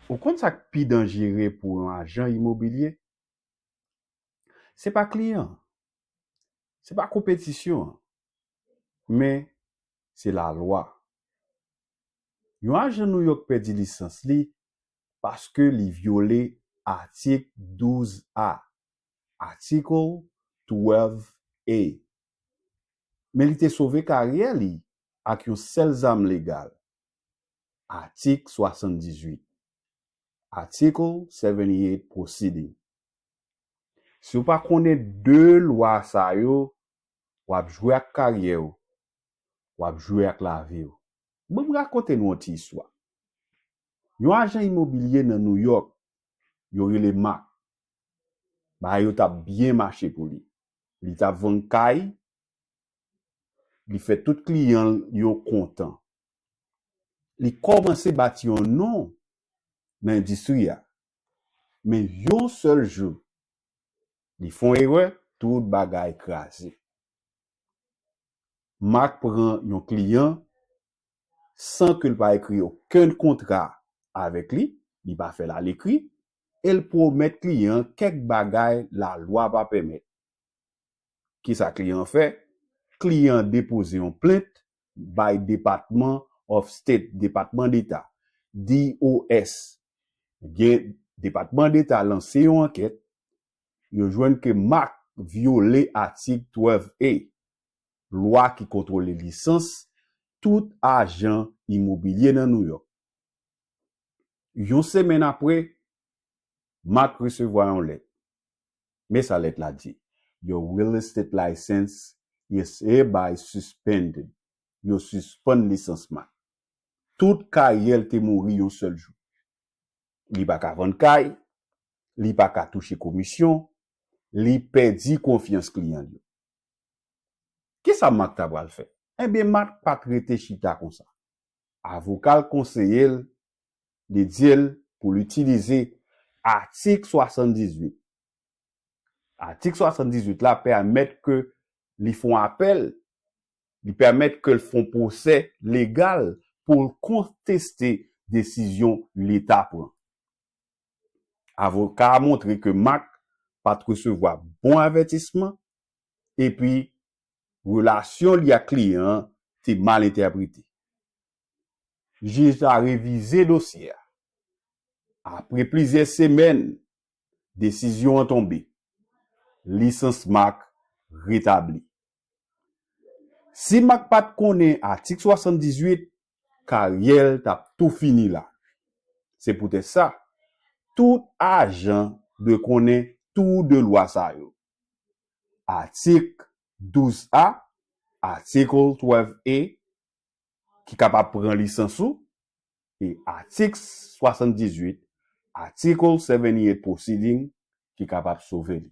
Ou konn sa k pi danjere pou yon ajan imobilye? Se pa kliyan an, se pa konpetisyon an, men se lalwa. Yon ajan Nouyòk pèdi lisans li paske li vyole atik 12 A, Article 12 A, men li te sove karyè li ak yon sèl zam legal, Atik 78, Article 78 proceeding. Si w pa konnen 2 lwa sa yo, w ap jwe ak karyè w, w ap jwe ak lavi w. Ban m rakonte nou yon ti istwa. Yon ajan imobilye nan Nouyòk, yo rele Mark, bagay yo t ap byen mache pou li. Li tap vann kay, li fè tout kliyan l yo kontan. Li kòmanse bati yon non nan endistri a. Men yon sèl jou, li fon erè, tout bagay kraze. Mak pran yon kliyan san ke l pa ekri okenn kontra avèk li, li pa fè l alekri, e l pwomèt kliyan an kèk bagay lalwa pa pèmèt. Kisa kliyan an fè? Kliyan an depoze yon plent bay Depatman of State, Depatman Deta, DOS. Ebyen, Depatman Deta lanse yon ankèt, yo jwenn ke Marc vyole atik 12 A. lwa ki kontwole lisans tout ajan imobilye nan New York. Yon semenn apre, Mark resevwa yon lèt. Men sa lèt la di, Your real estate license is hereby suspended, Yo sispann lisans Mark. Tout karyè l te mouri yon sèl jou. Li pa ka vann kay, li pa ka touche komisyon, li pèdi konfyans kliyan l yo. Ki sa Mak ta pral fè? Enben, Mak pa t rete chita konsa. Avoka l konseye l, li di l pou l itilize atik 78. Atik 78 la pèmèt ke li fon apèl, li pèmèt ke l fon pwosè legal pou l konteste desizyon Leta pran. Avoka a montre ke Marc pat resevwa bon avètisman epi relasyon li ak kliyan an te mal entèprete. Jij la revize dosye a. Apre plizyè semèn, desizyon an tonbe, lisans Marc retabli. Si Marc pat konnen atik 78, karyè l tap tou fini la. Se poutèt sa, tout ajan dwe konnen tou 2 lwa sa yo. Atik 12 A, Article 12 A, ki kapab pran lisans ou, e atik 78, Article 78 proceeding, ki kapab sove li.